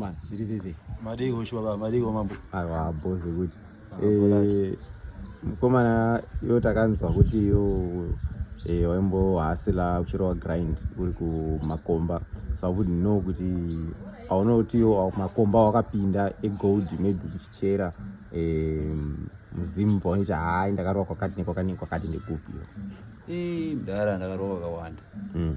Man, zviri zizi. Madii hosho baba, madii mambo. Aiwa boss kuti. Ah, eh mkomana yo takanzwa kuti yo eh waimbo hasila kuchirwa grind uri kumakomba. So I wouldn't know kuti aona kuti yo makomba wakapinda e gold maybe kuchichera eh muzimu paonita hayi ndakarwa kwakati nekwakati nekwakati ndekupi yo. Eh mdara ndakarwa kwakawanda. Mm.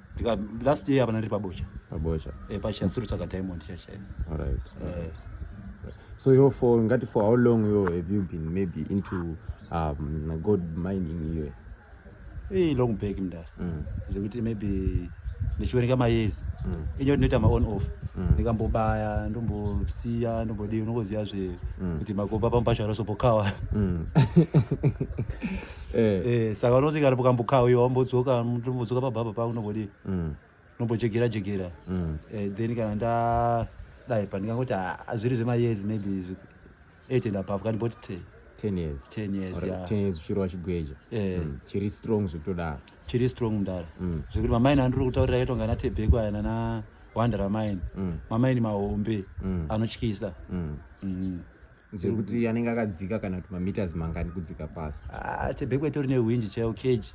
ndika last year hapana ndiri pabocha pabocha eh pacha suru tsaka diamond chacha all right eh so yo for ngati for how long yo have you been maybe into um gold mining yo eh long back mndara mm. zvekuti maybe ndichiwerenga mayezi mm. inyo ndinoita ma on off mm. ndikambobaya ndombosiya ndombodii unongoziva zve mm. kuti makomba pamupasha rosopokawa mm. Eh. Eh, saka unoti kana ukambokauya wambodzoka mutombozoka pababa pako unombodii Mm. unombojegera jegera Mm. Eh, then kana nda dai pa ndingangoti ah, zviri zvemayezi maybe zvi- eight and above kani boti te 10 years. 10 years Or yeah. 10 years uchiri wachigweja. Eh. Mm. Chiri strong zvekutodaro. chiri strong mdara Mm. zvekuti mamaini andiri kutaurira yaitonga natebheko aya nana wandera maini Mm. mamaini mahombe Mm. anotyisa Mm. Mhm. zvekuti mm-hmm. anenge akadzika kana kuti mameters mangani kudzika pasi ah, tebhekwe tori nehwinji chaiwo cage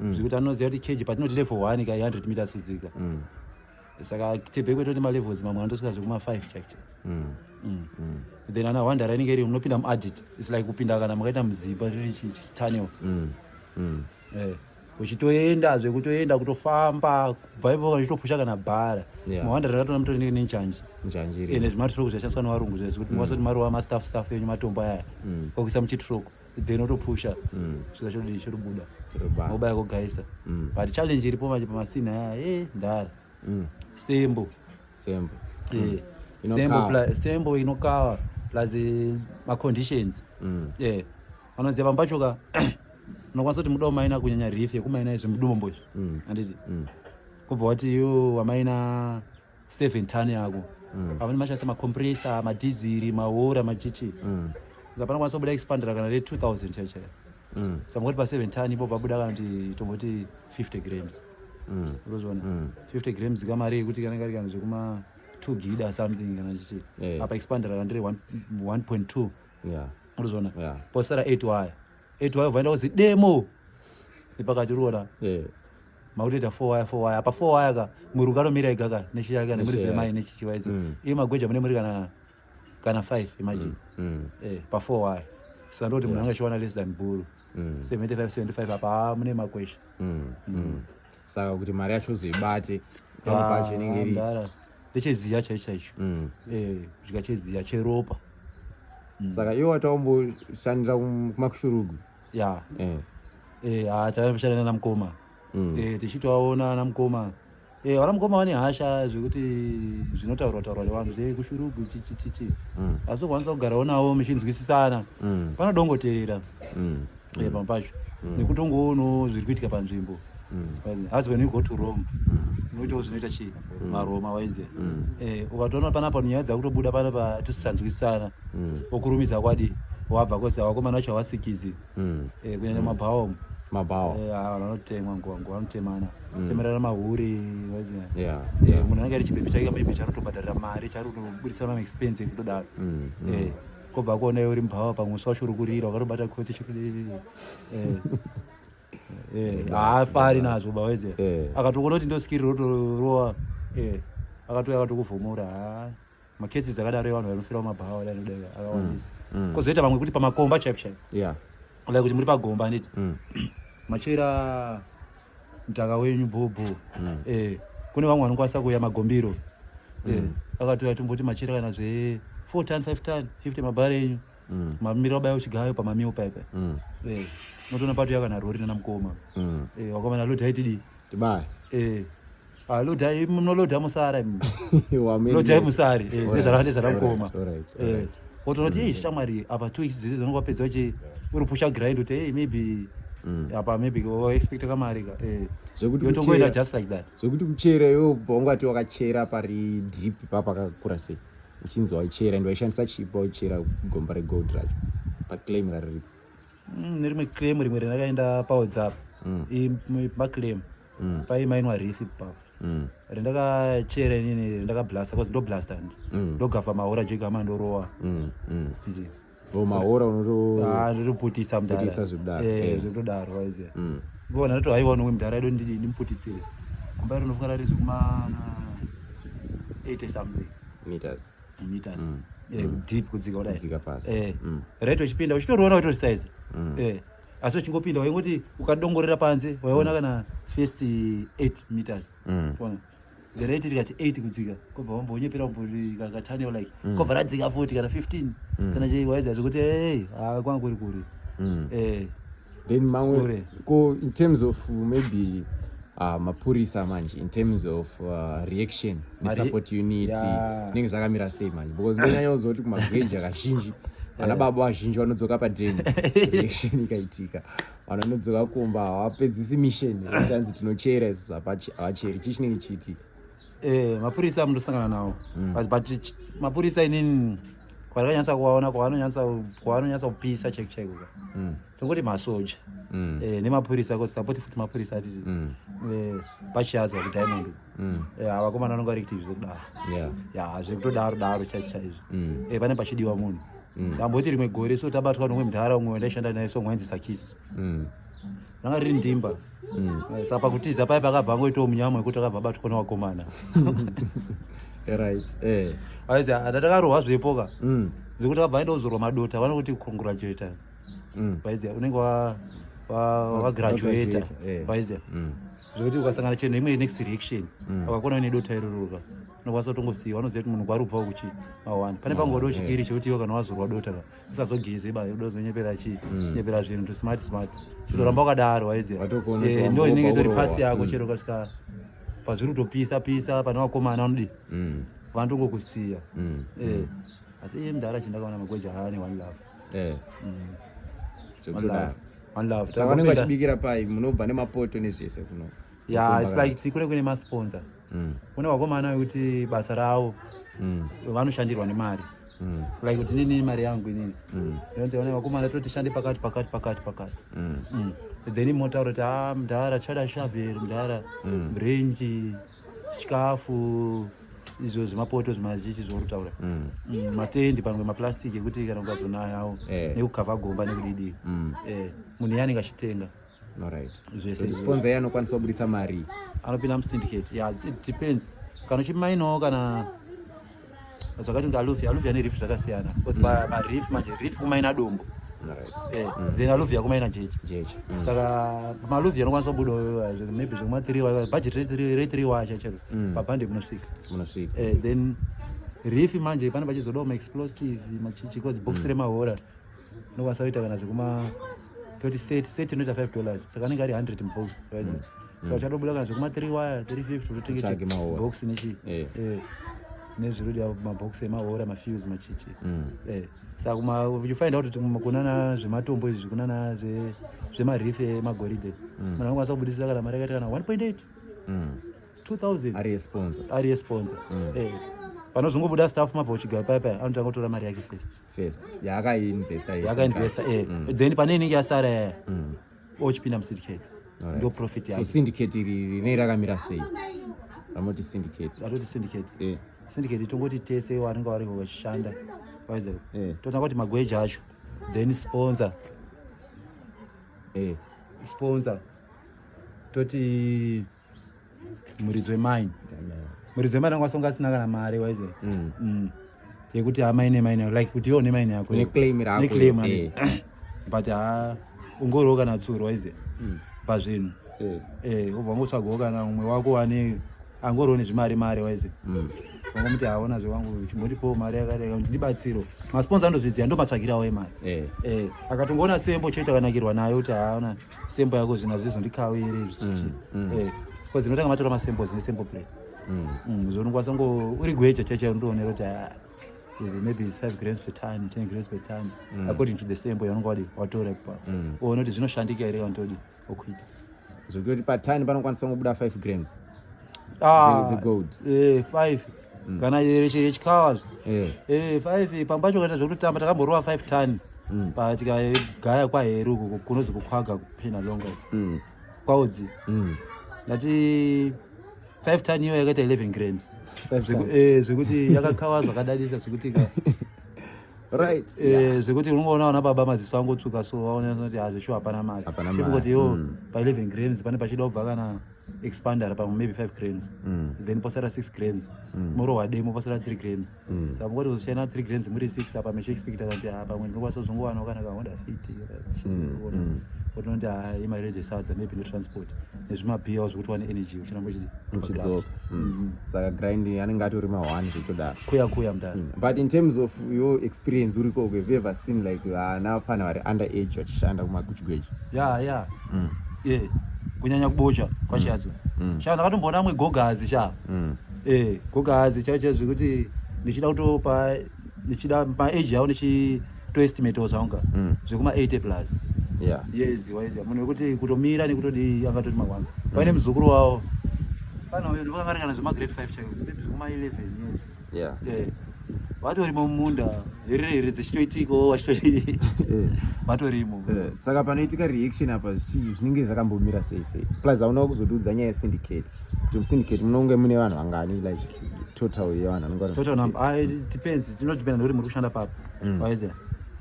mm. zvekuti anoziva kuti cage patinoti level one ka 100 meters kudzika mm. saka tebhekwe tori nemalevels mamwe anotosvika zvekuma5 chaicho mm. then ana hwandara inenge iri unopinda muadit its like kupinda kana makaita muzimba riri tunnel eh. uchitoenda zve kutoenda kutofamba kubva ipo uchitopusha kana bhara mawanda rakatona mutori neke nenjanji ende zvimatroko zvashandiswa nevarungu zvezvo kuti mwasati mm. maruva mastaff staff enyu matombo aya mm. kwakuisa muchitroko then otopusha mm. svika chodii chotobuda mobaya kogaisa but challenge iripo manje pamasina aya e eh, ndara sembo sembo eh, sembo sembo inokava plus eh, maconditions yeah Anoziva pamba pacho ka unokwanisa kuti muda wamaina kunyanya rifi yekumaina izvi mudombo izvi. Mm. Anditi. Mm. Kubva wati yo wamaina 7 ton yako. Mm. Pamwe mashasa ma compressor, ma diesel, ma water, ma chichi. Mm. Zapana kwanisa kubuda expander kana re 2000 chacha. Mm. Samukoti pa 7 ton ipo pabuda kana kuti tomboti 50 grams. Mm. Urozvona. Mm. 50 grams kamari yekuti kana kari kana zvekuma 2 gida something kana chichi. Yeah. Apa expander kana ndiri 1.2. yeah. murizvona yeah. posara 8 waya 8 waya vaenda kuzi demo ipakati uriona yeah makutoita four waya four waya apa four waya ka mwiri ukanomira ega ka neshi yake kana muri zvemai nechi chivaizo mm. iye magweja mune muri kana kana five imagine mm. mm. eh pa four waya saka ndoti munhu anga chiwana less than buru mm. seventy five seventy five apa mune makwesha mm. mm. mm. saka kuti mari yacho uzoibate pacho inenge iri ndecheziya chaicho chaicho mm. eh, kudya cheziya cheropa mm. saka iwe wataomboshandira kumakushurugu ya eh. eh, ha taamboshandira nana mukoma mm. tichitovaona ana mukoma vana mukoma vane hasha zvekuti zvinotaurwa taurwa nevanhu zvekushurugu chichichichi asi ukwanisa kugarawo navo muchinzwisisana panodongoterera eh, pamwe pacho mm. nekutongoonawo zviri kuitika panzvimbo mm. as when you go to rome mm. unoitawo zvinoita chii maroma waize eh, ukatoona panapa nyaya dzakutobuda panapa tisisanzwisana okurumidza kwadi wabva kose vakomana vacho havasikizi eh, kunyanya mabhaomu mabhawa eh, ah, vanotemwa nguva nguva vanotemana mm. temerana mahuri eh, munhu anenge ari chibebi chake maybe charikutobhadharira mari charikutobudisa mamaexpense kutodaro mm, mm. Eh. kobva kuona uri mbhawa pamwe uswa chiri kurira ukarobata koti chiri eh, eh, haafari nazvo baweze eh. akatokuona kuti ndoskiri rotorowa akatouya akatokuvhomora ha makesi dzakadaro evanhu vanofira mumabhawa da anoda akawandisa mm, mm. kozoita vamwe kuti pamakomba chaipo chaipo like kuti muri pagomba anditi mm. machera mtaka wenyu bhobho mm. eh, kune vamwe vanokwanisa kuuya magombiro eh, mm. akatouya tomboti machira kana zve four ton five ton fifty mabhara enyu mm. mamira obaya uchigayo pamamiwo paipa mm. eh, notoona patouya kana rori nana mukoma mm. eh, wakomana loti haitidii tibaya eh. Ah, lodai munoloda musara lodai musari nezvaravandezvara mukoma wotonoti ei shamwari apa two weeks dzese dzonokapedza uchi uri pusha grind uti ei maybe mm. apa maybe waexpecta kamari ka eh. yotongoita just like that zvekuti kuchera iwe ubva ungati wakachera pari drip ipa pakakura sei uchinzi waichera and waishandisa chipa waichera gomba regold racho paclaim rariripo mm, nerimwe claim rimwe randakaenda pawhatsapp mm. maclaim mm. paimainwa rifi ipapo mm. rindakachera inini ndakablasta bcause ndoblasta ndi mm. ndogavha mahora jega ama ndorowa mm. mm. so mahora unotoroputisa ah, mdara zvekutodaro eh, eh. waiziva mm. vona ndoti haiwa nomwe mdara ido ndimputitsire kumba iri unofunga rari zvekumana 80 something meters meters mm. eh, mm. deep kudzika kudai kudzika pasi eh, mm. right uchipinda uchitoroona utori size mm. eh, asi uchingopinda waingoti ukadongorera panze waiona mm. kana first 8 meters mm. One. the rate rikati 8 kudzika kobva wambonyepera kakatane like mm. kobva radzika 40 kana 15 mm. kana chei waiziva zvekuti hey ah, kwanga kuri kuri mm. eh, then mamwe ko in terms of maybe uh, mapurisa manje in terms of uh, reaction nesupport unit zvinenge yeah. zvakamira sei manje because ndonyanya kuziva kuti kumagweja kazhinji vana eh. baba vazhinji vanodzoka padreni reaction ikaitika vanhu vanodzoka kumba havapedzisi mission tanzi tinochera isu havacheri chii chinenge chiitika eh mapurisa amundosangana nawo mm. but, but mapurisa inini kwarakanyasa kuvaona kwavanonyasa kwavanonyasa kupisa chek chek uka mm. tongoti masoja mm. eh, nemapurisa ko sapoti futi mapurisa ati mm. eh, pachiyadzwa kudiamond mm. eh, avakomana vanonga vari kutivi zvekudaro yeah. ya zvekutodaro daro chaicho chaizvo mm. eh, pane pachidiwa munhu mm. tamboti rimwe gore so tabatwa nomwe mdhara umwe wandaishanda naye so mwainzi sakisi mm. ranga riri ndimba mm. eh, saka pakutiza paye pakabva angoitawo munyama wekuti akabva abatwa newakomana right eh aizi ndatakarohwa zvepo ka mm. zvekuti akabva aenda kuzorwa madota vanokuti congratulator mm. vaiziva unenge wagraduata vaiziva zvekuti ukasangana cheno imwe next reaction wakakona une dota iroroka unokwanisa kutongosiiwa unoziva kuti munhu kwarubva kuchi mawani pane pangoda uchikiri chekuti iwe kana wazorwa dota ka usazogeze ba yoda uzonyepera chii mm. nyepera zvinhu to smart smart chitoramba wakadaro waize eh, ndo inenge tori pasi yako mm. chero kasvika pazviri kutopisa pisa pane vakomana vanodii mm. vanotongokusiya eh, asi iye mdara chindakaona magweja haane one love eh. one love one love saka vanenge vachibikira pai munobva nemapoto nezvese kuno ya it's like tikure kune masponsa mm. kune vakomana vekuti basa ravo mm. vanoshandirwa nemari mm. like kuti nini mari yangu inini mm. ndoona vakomana toti shande pakati pakati pakati pakati mm. mm. then motaura kuti a ah, mdhara chada shavel mdhara mm. renji chikafu izvo zvemapoto zvemazichi zvourutaura mm. mm, matendi pamwe maplastic ekuti kana ukazonayawo eh. nekukava gomba nekudidii mm. eh, munhu yanenge achitenga Alright. Zvese sponsor yeye anokwanisa kubudisa mari. Anopinda mu syndicate. Yeah, it depends. Kana chimaino kana zvakati ndi aluvia, aluvia ane reef zvakasiyana. Because mm. ma, ma reef manje reef kumaina dombo. Alright. Eh, mm. then aluvia kumaina jeje. Jeje. Mm. Saka ma aluvia anokwanisa kubuda eh, maybe zvekuma 3 wa budget rate 3 rate 3 wa chachero. Mm. Pa band kunosvika. Kunosvika. Eh, then reef manje pane pachizodawo ma explosive machichi because box mm. remahora. nokwanisa kuita kana zvekuma toti set set inoita 5 dollars saka anenge ari 100 mubox right mm. so mm. uchatobuda kana zvekuma 3 wire 350 utotengeche box nechi eh. eh nezvirudi mabox emahora mafuse machichi mm. eh, saka kuma you find out kuti kunana zvematombo izvi kunana zvemarif emagoridhe mm. munhu anokwanisa kubudisisa kana mari yakaita kana 1.8 2000 ari esponsa ari esponsa mm. eh, panozongobuda staff mabva uchigaya paya paya anotanga kutora mari yake first first yaakainvesta yese yakainvesta eh Mm. then pane inenge yasara yaya Mm. ochipinda musyndicate Alright. ndo profit so yacho syndicate iri rine rakamira sei ramoti syndicate ratoti syndicate eh syndicate tongoti tese vanenge vari vachishanda waizer Eh. totanga kuti magweji acho then sponsor eh sponsor toti muridzo wemain muridzo wemain anga asonga asina kana mari waize mm. mm. yekuti amai ah, nemain yako like kuti iwo nemain yako neclaim eh. but ha ah, ungoriwo kana tsuro waize mm. pazvinhu eh. eh, ubva ngotsvagawo kana umwe wako wane angoriwo nezvimari mari waize mm. vangomuti haona zvewangu chimbondipowo mari yakadai kuti ndibatsiro masponsa andozviziva ndomatsvagirawo emari akatongoona sembo choita kanakirwa nayo kuti haona ah, sembo yako zvina zvizo ndikawe iri zvichi mm, eh cuz ndotanga matora masembo zine sembo plate mm zvono kwasa ngo uri gweja chacha ndoonera kuti ah, maybe is 5 grams per time 10 grams per time mm. according to the sembo yanonga wadi watora pa mm. uone kuti zvinoshandika here wantodi okuita zvekuti patani panokwanisa kungobuda 5 grams Ah, Dze- dzegold. eh, five kana yereche yechikawa Eh. Eh, five pambacho kaita zvekutotamba takamborova five ton Mm. patikagaya kwaheru uko kunozi kukhwaga kuphina longa Mm. kwaudzi Mm. ndati five ton iyo yakaita 11 grams Five Zveku- times. eh, zvekuti yakakawa zvakadadisa zvekuti ka- Right. eh, zvekuti unongoona vana baba maziso angotsvuka so vaona kuti hazvishu hapana mari Hapana mari, chekungoti yo Mm. pa 11 grams pane pachida kubva kana expandera pamwe maybe 5 grams mm. then posara 6 grams mm. morohwa demo posara 3 grams mm. saka mukoti kuzoshana 3 grams muri 6 apa mechiexpecta kuti ha ah, pamwe ndinokwanisa kuzongowanawo kana kahoda fiti otonoti mm, mm. ha ah, imari rezesadza maybe netransport nezvimabiyawo zvekuti wane energy uchinambo chidzoka mm-hmm. saka grind anenge atori mahwani zvekutodaro kuya kuya mudaro but in terms of your experience uriko have ever seen like vana vafana vari under age vachishanda kumakuchigweji ya ya mm. yeah. kunyanya kubocha kwashatso mm. mm. shaa ndakatomboona amwe gogazi shaa mm. eh, gogazi chaicha zvekuti ndichida kutopa ndichida maage yavo ndichitoestimate zvaunga mm. zvekuma 80 plus yeah. yes waiziva munhu wekuti kutomira nekutodii angatoti mawanga mm. paine muzukuru wavo fana uyo ndivakangari kana zvemagrade 5 chaivo zvekuma 11 yes yeah. yeah. vatorimo mumunda hererere dzichitoitikawo vachitoi eh. vatorimo eh, saka panoitika reaction apa zvinenge zvakambomira sei sei plus haunawo kuzotiudza nyaya yesyndicate kuti musyndicate munonge mune vanhu vangani like total yevanhudepends ah, tinodependa nekuti muri kushanda papi mm. waiza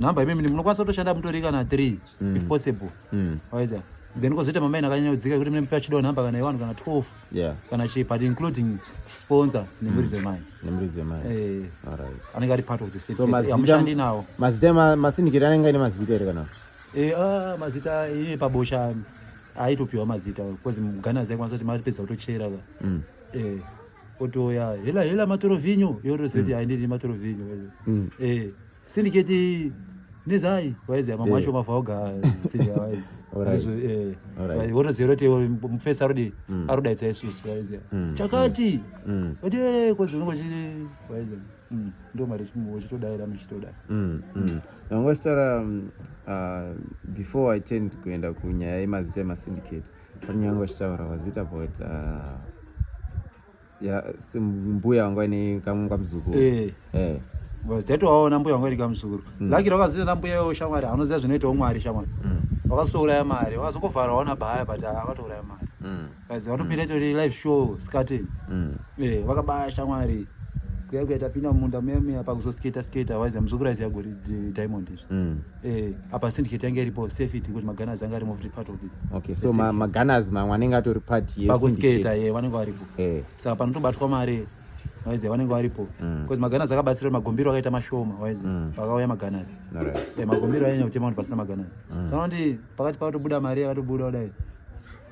number imimi munokwanisa kutoshanda mutori kana three mm. if possible mm. waiza then kozoita mamaina akanyanya kudzika kuti mune mupe achidawo number kana iwanhu kana twelve yeah. kana chii but including sponsor nemhuri mm. dzemai nemhuri dzemai eh. anenge ari part of the safetyhamushandi nawo mazita masindikiri anenge aine mazita here kana eh, ah, mazita iye pabosha aitopiwa mazita bcause mugana zaikwanisa kuti matipedza kutochera ka mm. eh, otoya hela hela matoro vinyo yorozoti mm. aindiri matoro vinyo Syndicate iyi nezai waiziva mamwe acho mabva oga wotoziva kuti mufesi arudi mm. arudaitsa isusu waiziva mm. chakati mm. kuti eh, kozi unenge uchiti waiziva ndo mari simu uchitodaira muchitodai vanga vachitaura um, uh, before i tend kuenda kunyaya yemazita emasyndicate panyanga vachitaura wazita about uh, ya mbuya wanga ine kamwe kamuzukuru eh eh vazidati waona mbuya wanga ine kamuzukuru mm. lakira wakazita na mbuya yo shamwari anoziva zvinoitawo mwari shamwari mm. wakasouraya mari wakazokovhara waona baya but akatouraya mari mm. guys vanopinda mm. tori live show skating mm. eh vakabaya shamwari kuya kuya tapinda mumunda meme apa kuzosketa sketa waiziva muzukuru aiziva gori diamond izvi mm. Eh, apa syndicate yange iripo safety ngokuti magunners anga ari moved part of it okay so ma, magunners mamwe anenge atori part yepakusketa ye eh, vanenge varipo eh. saka panotobatwa mari waiziva vanenge varipo bcause mm. magunners akabatsira kuti magombiro akaita mashoma waiziva mm. pakauya magunners eh, magombiro anyanya kutema kuti pasina magunners mm. so anoti pakati pakutobuda mari yakatobuda kudai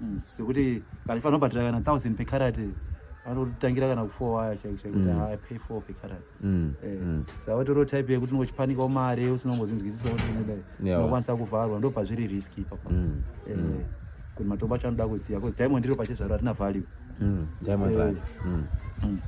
mm. zvekuti kana fanira kubhadhira kana thousand per carat vanotangira kana kufour waya chaiko chaiko kuti mm. i pay four per carat mm. eh, mm. saka vatoriwo type yekuti ungochipanikawo mari usina kumbozvinzwisisa kuti unodai unokwanisa kuvharwa ndo pazviri risk ipapa mm. eh, mm. kuti matombo acho anoda kuziva bcause diamond riro pachezvaro hatina value mm. diamond eh. value mm. mm.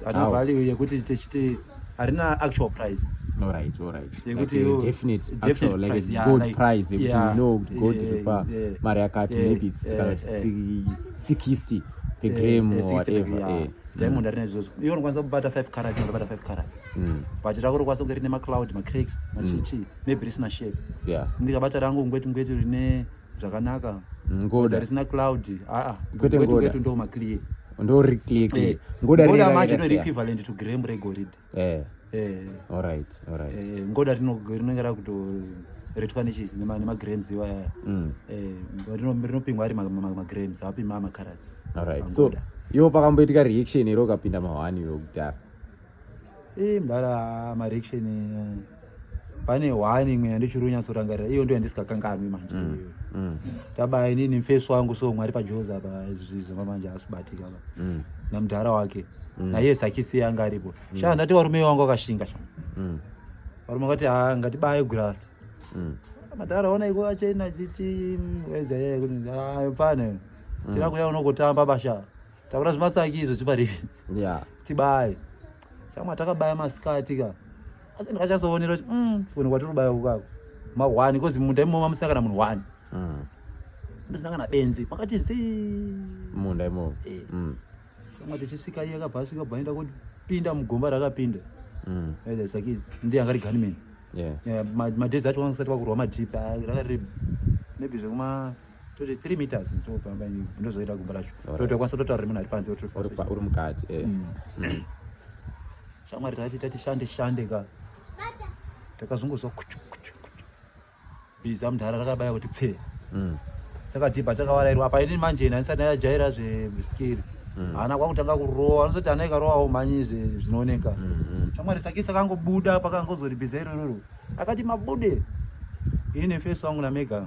Ana value yekuti techiti harina actual price. All right, all right. Yekuti like you, definite, definite actual, like price, yeah, good like, price. Yekuti yeah, you know, good yeah, kupa yeah, mari yakati yeah, maybe it's yeah, kana yeah, 60 per yeah, gram yeah, or whatever. Yeah. Yeah. Diamond arina izvozvo. Iwe unokwanisa kubata 5 carat, unobata 5 carat. Mm. But rako rokwanisa kunge rine ma cloud, ma cracks, ma chichi, mm. maybe risina shape. Yeah. Ndikabata rangu ngweti ngweti rine zvakanaka ngoda risina cloud aa kwete ngoda kwetu ndo maclear ndo ri clear clear eh, ngoda ngoda macho ndo equivalent to gram regorid eh eh all right all right eh ngoda rino rinenge rakuto retwa nechi nema nema grams iwa ya mm. eh rino rino pingwa ari ma, ma, ma grams api ma ma carats all right so yo pakamboitika reaction iro kapinda mahwani yo kudhara Ii mdara marection eh, pane one imwe yandichiri kunyatsorangarira iyo ndo yandisingakanganwi manje mm, mm. taba inini mfesi wangu so mwari pajoza pa zvizvoma manje asibatika pa mm. namdhara wake mm. naiye sakisi yanga aripo mm. shaa ndati warume wangu akashinga sha mm. varume vakati ha ah, ngatibaye gurati mm. madhara ona iko achena chichi mm, wezayee kuti ayo ah, pfane mm. tira kuya unogotamba bashaa taura zvemasaki izvo chipari yeah. tibaye shamwa takabaya masikati ka asi ndikachasoonera kuti mm, kune kwatiri kubaya kukako mahwani kozi munda imomo mamusina kana munhu hwani mm. ndisina kana benzi pakati zi munda imomo eh. mm. shamwa tichisvika iye akabva asvika bva aenda kupinda mugomba rakapinda mm. sakizi ndiye anga ri gunman yeah. yeah, madhezi acho vanosati vakurwa madhip ah, rakari maybe zvekuma toti three meters topamba ndozoita gumba racho totokwanisa totaura remunhu ari panze uri mukati eh. mm. mm. shamwari tati tati shande shande ka takazongozwa kuchu kuchu kuchu biza mudhara rakabaya kuti pfe mm. takadhibha takawarairwa apa ini manje ini andisati ndajaira zveskiri haana kwakutanga kurowa anozoti ana ikarowawo mhanyi zvinooneka shamwari sakisa kangobuda pakangozotibiza irororo akati mabude ini nefesi wangu namega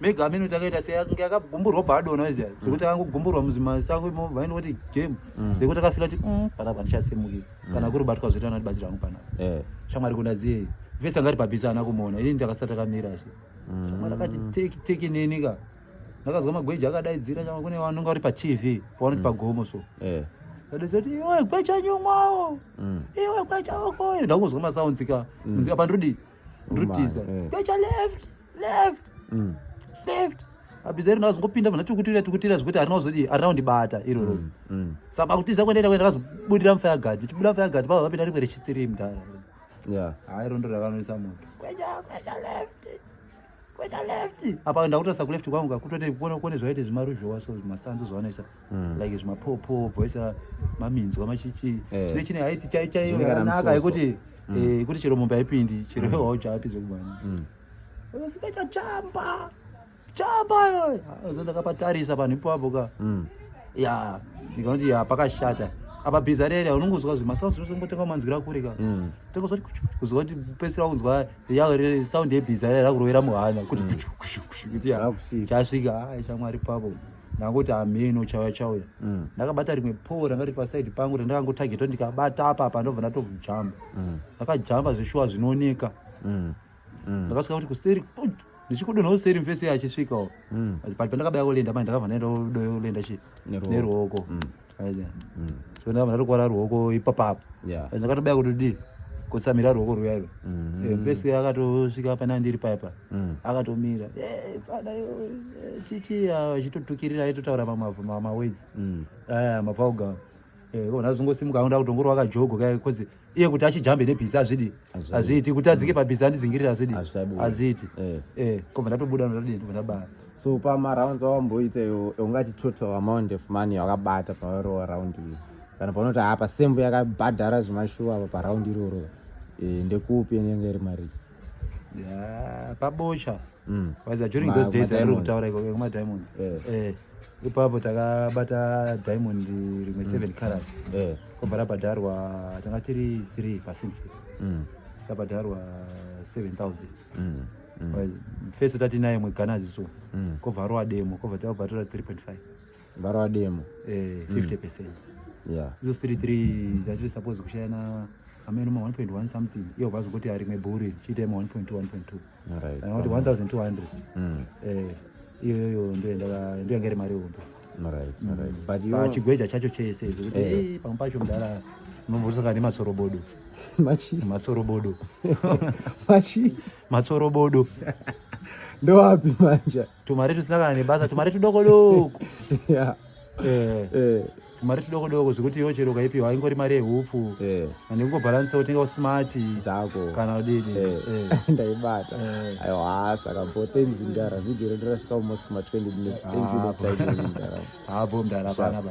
mega amene kuti akaita seyange akagumburwa bva adona iziya mm. zvekuti akangogumburwa muzvimasango imo vaini kuti game mm. zvekuti akafila kuti mm, panapa ndichasemukira kana mm. kuri batwa zvoita anati batsira hangu panapa eh. shamwari kuna ziye vese angati pabhisi ana kumuona ini ndakasati akamira zve shamwari akati teki teki neni ka ndakazwa magweja akadaidzira chama kune vanonga vari patv pavanoti pagomo so eh. adezati iwe gweja nyumwawo iwe gweja okoyo ndakuzwa masounds ka unzika pandrudi ndotiza eh. tocha left left mm. left abizari nawo zingopinda vana tikutira tikutira zvekuti arina kuzodii arina kundibata iroro mm, mm. saka pakutiza kuendaenda kuenda kazobudira mufaya gadhi ndichibuda mufaya gadhi pava vapinda rimwe rechitiri mdara hai rondo rakanwisa moto kwecha kwecha left kweka left apa ndakutosa kuleft kwangu kakutote kuona kuone zvaite zvimaruzhowa so zvimasanzu zvavanoisa mm. like zvimapopo bvoisa maminzwa machichi eh. chine chine haiti chai chai yanaka yekuti mm. eh, yekuti chero mombe haipindi chero mm. hauchapi zvekubana mm. sikaita chamba chamba yoyo ah, so ndakapatarisa panhu ipapo ka mm. ya ndikanoti ya pakashata apa bhiza rere unongozwa zvimasanzu zvose ngotenga manzwira kure ka mm. tengozwa kuzwa kuti pesira unzwa yauri sound yebhiza ira rakurovera muhana kuti kushu kushu kushu kuti ya Hakusiri. chasvika hai shamwari pavo ndakuti hameno chauya chauya Mm. ndakabata rimwe poo ranga riri pasaidi pangu randakangotagetwa ndikabata apa apa ndobva ndatovujamba Mm. ndakajamba zveshuwa zvinooneka Mm. Mm. ndakasvika kuti kuseri put, ndichikudonha kuseri mfesi achisvikawo Mm. asi pati pandakabaya kulenda mai ndakabva ndaenda kulenda chi Neruoko. neruoko Mm. zvona vanhu varikuvara ruoko ipapapo zvakatobaya kuti dii kusamira ruoko ruya iro fesi mm-hmm. akatosvika pana ndiri paipa mm. akatomira fada chichi achitotukirira aitotaura mamaways aya mavauga kona zvingosimuka akuda kutongoro wakajogo kae bcause iye kuti achijambe nebhizi azvidi azviiti kuti adzike pabhizi andidzingirire azvidi azviiti eh. eh, kobva ndatobuda ndadii ndobva ndabaya so pamarounds awamboita iwo ungati total amount of money wakabata pawarowa round iyo kana paunoti haa pasembo yakabhadhara zvemashuwa apa paround iroro eh, ndekupi inenge iri mari pabosha mm. was during those days ari kutaura ikoko kumadiamonds ipapo takabata diamond rimwe mm. seven carat eh. kobva rabhadharwa tanga tiri three percent mm. rabhadharwa seven thousand mm. fese tati naye mwe ghana ziso kobva arowa demo kobva tabatora three point five varowa demo eh, fifty percent izo three three tatiri suppose kushayana ameno ma one point one something iyo vazokoti arimwe bhuri chiita ma one point one point two right. saka kuti 1200 mm. eh, iyoyo ndoyanga iri mari hombe pachigweja mm. chacho chese zvekuti eh. eh, pamwe pacho mudara unombotisaka nematsorobodo matsorobodo matsorobodo ndowapi manja tumari tusina kana nebasa tumari tudokodoko yeah. eh. eh. mari tudoko doko zvekuti iwo chero ukaipiwa ingori mari yehupfu eh. and kungobhalansa utenga smart zako kana udidi eh. eh. ndaibata aiwa saka bo thanks mdara video redu rasvika almost ma 20 minutes thank you for ah, time mdara habo ah, mdara panapa